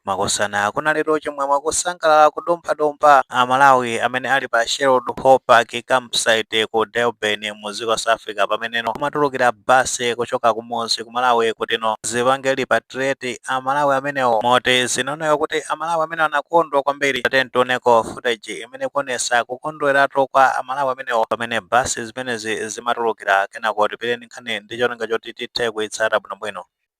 Makosana kunalitu chimwemwe kusangalala kudumphadumpha a Malawi amene ali pa Sherwood Hall Park Camp Site ku Durban mu dziko South Africa pameneno kumatulukira basi kuchoka kumudzi ku Malawi kutino zipange repatriate a Malawi amenewo moti zinaoneka kuti a Malawi amenewo anakondwa kwambiri tateni tioneko footage imene kuonesa kukondweratu kwa a Malawi amenewo pamene basi zimenezi zimatulukira kenako tipitireni nkhani ndi cholinga choti tithe kuitsata bwinobwino.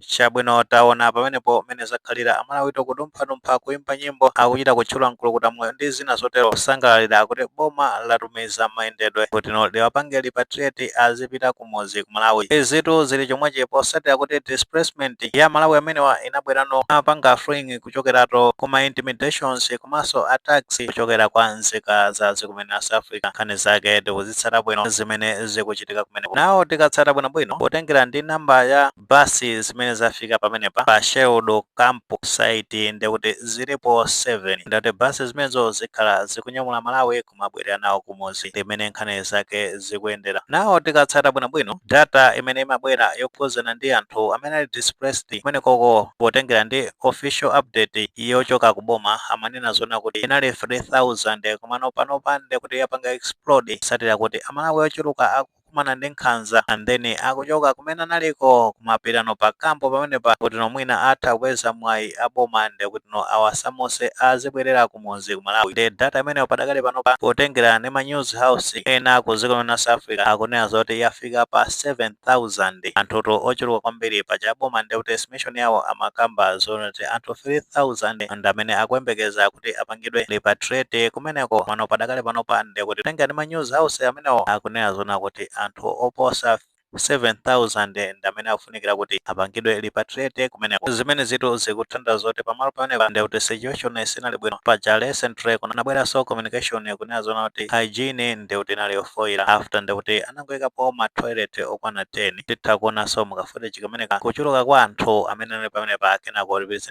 chabwino taona pamenepo mmene zakhalira amalawitu kudumphadumpha kuimba nyimbo akuchita kutchula mkulukuta moyo ndi zina zotero kusangalalira kuti boma latumiza mayendedwe kutino liwapange repatriate azipita kumudzi ku malawi izitu zili chomwechi potsatira kuti displacement ya malawi amenewa inabwerano atapanga fleeing kuchokeratu kuma intimidations komanso attacks kuchokera kwa nzika za dziko kumene a South Africa nkhani zake tikuzitsata bwino zimene zikuchitika kumeneko now tikatsata bwinobwino potengera ndi namba ya basi zimene zafika pamenepa pa Sherwood Camp site ndekuti zilipo 7 ndekuti basi zimenezo zikhala zikunyamula Malawi kumabwerera nawo kumudzi ndi mmene nkhani zake zikuyendera. Now tikatsata bwinobwino data imene imabwera yokhuzana ndi anthu amene ali displaced kumenekoko potengera ndi official update yochoka ku boma amanena zoona kuti inali 3000 komano panopa nde kuti yapanga explode potsatira kuti amalawi ochuluka akukumana ndi nkhanza and then akuchoka kumene analiko kumapitano pa kampu pamenepa kutino mwina atha kupeza mwayi waboma ndekutino awasamuse azibwerera ku mudzi ku Malawi nde data imeneyo padakali panopa potengera ndi ma news house ena ku dziko la South Africa akunena zoti yafika pa 7000 anthutu ochuluka kwambiri paja boma nde kuti estimation yawo amakamba zonati anthu 3000 ndi amene akuyembekeza kuti apangidwe repatriate kumeneko komano padakali panopa nde kuti potengera ndi ma news house amenewo akunena zoona kuti anthu oposa 7,000 ndi amene akufunikira kuti apangidwe repatriate kumeneko. Zimenezitu zikutanthauza zoti pamalo pamenepa nde kuti situation sinali bwino. Paja recently kunabweranso communication kunena zoona kuti hygiene nde kuti inali yofoira after nde kuti anangoikapo ma toilet okwana 10. Titha kuonanso mu ka footage kameneka kuchuluka kwa anthu amene anali pamenepa kenako tipitirize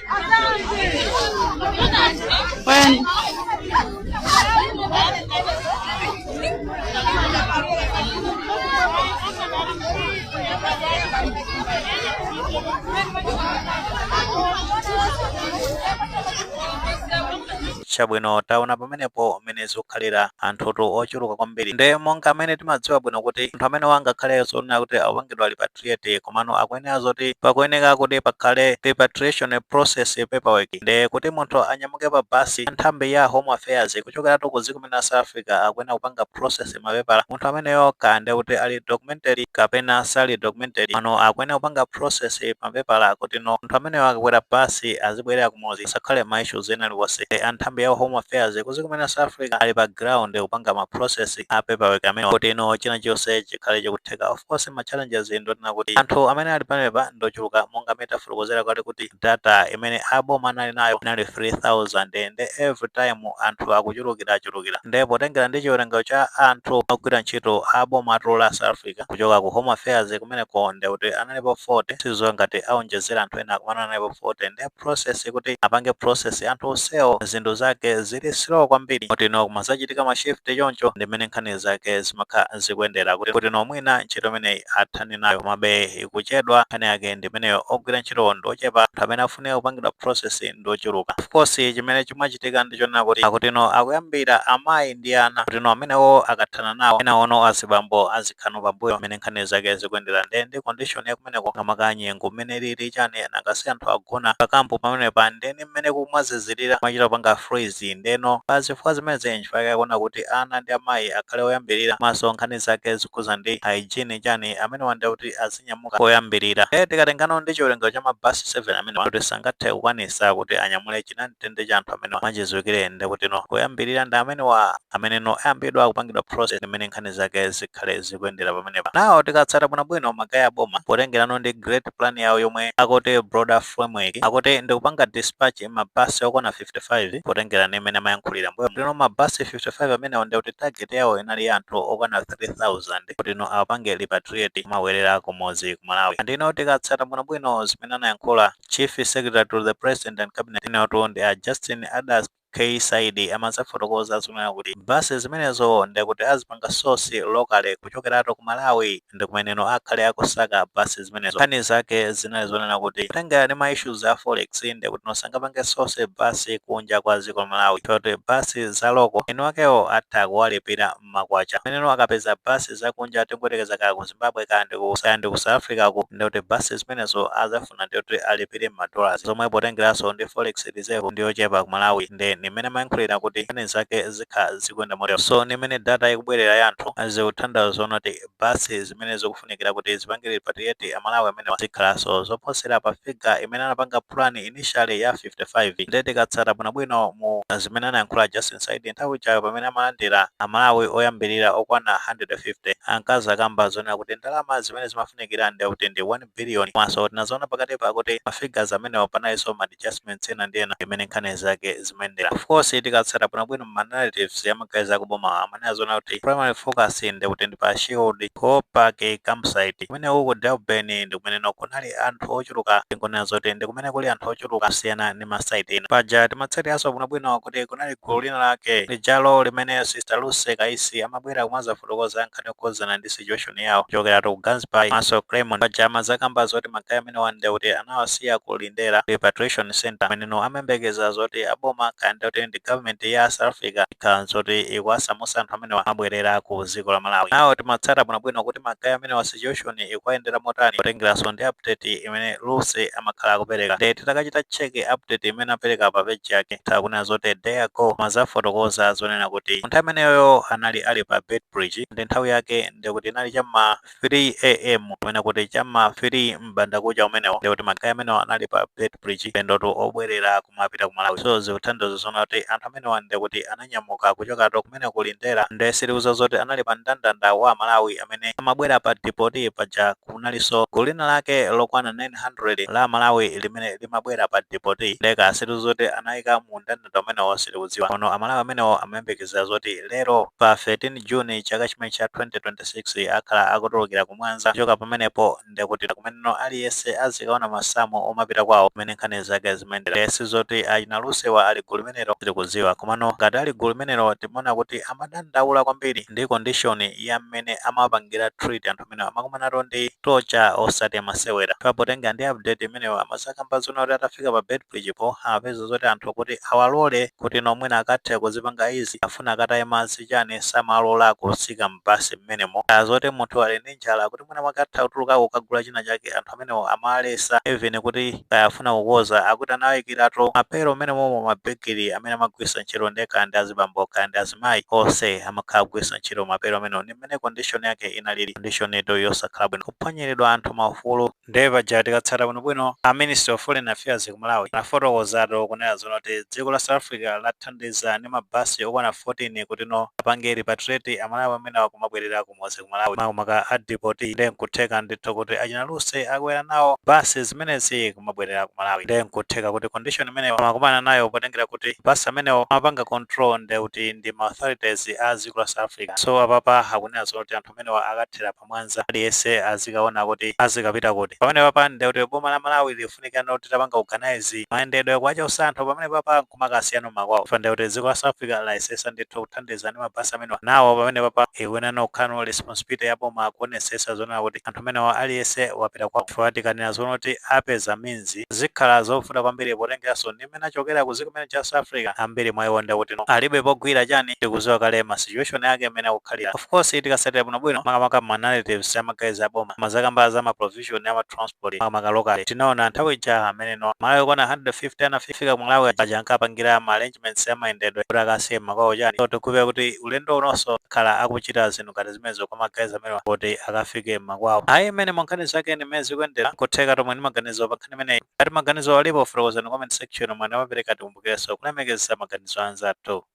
chabwino taona pamenepo mmene zikukhalira anthutu ochuluka kwambiri nde monga amene timadziwa bwino kuti anthu amenewa angakhale zonena kuti apangidwe repa repatriate komano akuyenera zoti pakuyeneka kuti pakhale repatriation process paperwork nde kuti munthu anyamuke pa basi nthambi ya home affairs kuchokeratu ku dziko la south africa akuyenera kupanga process mapepala munthu ameneyo kaya nde kuti ali documented kapena sali documented mano akuyenera kupanga process mapepala kuti no munthu ameneyo akakwera basi azibwerera kumudzi asakhale ma issues ena aliwonse anthambi ya home affairs ku dziko la south africa ali pa ground kupanga ma process a paperwork amenewa kuti ino china chonse chikhale chikutheka of course ma challenges ndonena kuti anthu amene ali pamenepa ndochuluka monga amene tafotokozera kale kuti data imene aboma anali nayo inali 3000 and every time anthu akuchulukira achulukira nde potengera ndi chiwerengero cha anthu ogwira ntchito aboma a dziko la south africa kuchoka ku home affairs kumeneko nde kuti analipo 40 sindziwa ngati aonjezera anthu ena komano analipo 40 nde process kuti apange process anthu onsewo zinthu zake zili slow kwambiri kuti no kumazachitika ma shift choncho ndi mmene nkhani zake zimakha zikuyendera kuti kuti no mwina ntchito imeneyi athane nayo komabe ikuchedwa nkhani yake ndi imeneyo ogwira ntchitowo ndi ochepa anthu amene afunika kupangidwa process ndi ochuluka of course chimene chimachitika ndi chonena kuti akuti no akuyambira amayi ndi ana kuti no amenewo akathana nawo enano azibambo azikhala no pambuyo ndi mmene nkhani zake zikuyendera nde ndi condition yaku kumeneko kamaka nyengo mmene ilili chani nanga si anthu agona pa camp pamenepa nde ni mmene kumazizilira kumachita kupanga freeze ndeno pa zifukwa zimenezi nchifukwa chake akuona kuti ana ndi amayi akhale oyambilira komanso nkhani zake zokhuza ndi hygiene chani amenewa nde kuti azinyamuka koyambilira nde tikatengano ndi chiwerengero cha ma bus 7 amenewa kuti sangathe kukwanisa kuti anyamule chinamtindi cha anthu amenewa mwachidziwikire nde kutino oyambilira ndi amenewa ameneno ayambidwa kupangidwa process ndi mmene nkhani zake zikhale zi kuyendera pamenepa nawo tikatsata bwinobwino ma guy a boma potengerano ndi great plan yawo yomwe akuti broader framework akuti ndikupanga dispatch mabasi okwana 55 potengera ndi mmene amayankhulira mbuyomo kutino mabasi 55 amenewo ndikuti target yawo inali ya anthu okwana 3000 kutino awapange repatriate kumabwerera kumudzi ku malawi andino tikatsata bwinobwino zimene anayankhula chief secretary to the president and cabinet inotu ndi a justin adack K Saidi amazafotokoza zonena kuti bus zimenezo ndekuti azipanga source locally kuchokeratu ku Malawi ndi kumeneno akhale akusaka bus zimenezo. Nkhani zake zinali zonena kuti kutengera ndi ma issues a forex ndekutino sangapange source bus kunja kwa dziko la Malawi chifukwa choti bus za local eni akewo atha kuwalipira. mmakwacha pameneno akapeza bus zakunja tingoyelekeza kaya ku zimbabwe kaya ndi ku kaya ndi ku south africa ku nde kuti bus zimenezo azafuna nde kuti alipile mma dollars zomwe potengelaso ndi forex reserve ndiyochepa ku malawi nde ni mmene amayankhulila kuti nkhani zake zikha zikuyenda motero so ni mmene data ikubwelela ya anthu zikuthandauza zonena kuti basi zimene zikufunikira kuti zipangire repatriate amalawi amenewa zikhalanso zoposera pa figure imene anapanga plan initially ya 55 nde tikatsata bwinobwino mu zimene anayankhula Justin Saidi nthawi ijayo pamene amalandira amalawi oyambilira okwana 150 ankazakamba zonena kuti ndalama zimene zimafunikira ndekuti ndi 1 billion komanso tinazaona pakatipa kuti ma figures amenewa panalinso ma adjustments ena ndi ena mmene nkhani zake zimayendera of course tikatsata bwinobwino ma narratives ya ma guys akubomawa amanena zoona kuti primary focus ndi kuti ndi pa Sherwood Park campsite kumene uku Durban ndi kumeneno kunali anthu ochuluka tingonena zoti ndi kumene kuli anthu ochuluka kusiyana ndi ma site ena paja timatsatiranso bwinobwino kuti kunali gulu lina lake lijalo limene sister Lucy Kaisi amabwera kumazafotokoza nkhani yokhudzana ndi situation yawo kuchokeratu ku Gansbaai komanso Kleinmond. Paja amazakamba zoti ma guy amenewa nde kuti anawasiya ku Lindela Repatriation Centre kumeneno amayembekeza zoti a boma kaya nde kuti ndi government ya South Africa ikhala nzoti ikuwasamutsa anthu amenewa kumabwerera ku dziko la Malawi. Now timatsata bwinobwino kuti ma guy amenewa situation ikuwayendera motani potengeranso ndi update imene Lucy amakhala akupereka nde titakachita check update imene apereka pa page yake takunena zoti a day ago amazafotokoza zonena kuti nthawi imeneyoyo anali ali pa Beitbridge ndi nthawi yake ndi kuti inali cha ma 3am kumene kuti cha ma 3 m'bandakucha umenewo ndi kuti magayi amenewo anali pa Beitbridge paulendotu obwerera kumapita ku Malawi so zikutanthauza zona kuti anthu amenewa ndi kuti ananyamuka kuchokatu kumene ku Lindela nde sitikudziwa zoti anali pa mndandanda wa Amalawi amene amabwera pa deport paja ku kunalinso gulu lina lake lokwana 900 la Amalawi limene limabwera pa deport nde kaya sitikudziwa zoti anaika mu ndandanda umenewo sitikudziwa komano Amalawi amenewo amayembekezera zoti lero pa 13 June chaka chimene cha 2026 akhala akutulukira ku Mwanza kuchoka pamenepo ndekuti kumeneno aliyense azikaona masamu omapita kwawo mmene nkhani zake zimayendera Ndiye si zoti achina Lucy wa ali gulu limenelo sitikudziwa komano ngati ali gulu limenelo timaona kuti amadandaula kwambiri ndi condition ya mmene amapangira treat anthu amene amakumanatu ndi torture osati masewera pa potengera ndi update imeneyo amazakamba zona kuti atafika pa Beitbridge po amapeza zoti anthu kuti awalole kuti no mwina akathe kuzipanga ease afuna akataye madzi chani samalola kutsika mbasi mmenemo olo zoti munthu ali ndi njala kuti mwina mwake atha kutulukako kukagula china chake anthu amenewo amaletsa even kuti kaya afuna kukodza akuti anawayikiratu ma pail mmenemomo mabigiri amene amagwiritsa ntchito nde kaya ndi azibambo kaya ndi azimayi onse amakhala akugwiritsa ntchito ma pail amenewo ndi mmene condition yake inalili condition tu yosakhala bwino kuphwanyiridwa anthu maufulu nde paja tikatsata bwinobwino a ministry of foreign affairs ku malawi anafotokozatu kunena zoona kuti dziko la south africa lathandiza ndi ma bus okwana 14 kuti no apange repatriate amalawi amenewa kumabwerera kumudzi ku malawi makamaka a deportee nde nkutheka ndithu kuti achina lucy akwera nawo bus zimenezi kumabwerera ku malawi nde nkutheka kuti condition imeneyo amakumana nayo potengera kuti bus amenewo amapanga control nde kuti ndi ma authorities a dziko la South Africa so apapa akunena zonena kuti anthu amenewa akathera pa Mwanza aliyense azikaona kuti azikapita kuti pamene papa ndiye kuti boma la Malawi lifunika no titapanga organize mayendedwe kuwachosa anthu pamene papa nkumakawasiya m'makwawo chifukwa ndiye kuti dziko la South Africa layesesa ndithu kuthandiza ndi mabasi amenewa nawo pamene papa ikuyenera no kukhala no responsibility ya boma kuonesesa zonena kuti anthu amenewa aliyense wapita kwawo chifukwa tikanena zonena kuti apeza means zikhala zovuta kwambiri potengeraso ndi mmene achokera ku ziko limene ija South Africa ambiri mwa iwo nde kuti no alibe pogwira chani tikuziwa kale ma situation yake mmene akukhalira of course tikasatira bwino bwino makamaka ma narratives ya magayizi aboma amazakamba za ma provision ya ma transport makamaka locally tinaona nthawi ija amene no aMalawi okwana 150 anafika ku Malawi aja ankapangira ma arrangements ya mayendedwe kuti akawasiye m'makwawo chani so tikupeza kuti ulendo unonso akhala akuchita zinthu ngati zimenezo kwa magayizi amenewa kuti akafike m'makwawo ayi imene mwa nkhani zake ni mmene zikuyendera kutheka timve ni maganizo pa nkhani imeneyi ngati maganizo alipo fotokozani mu comment section mwa nthawi zonse tikumbukileso kulemekeza maganizo anzathu.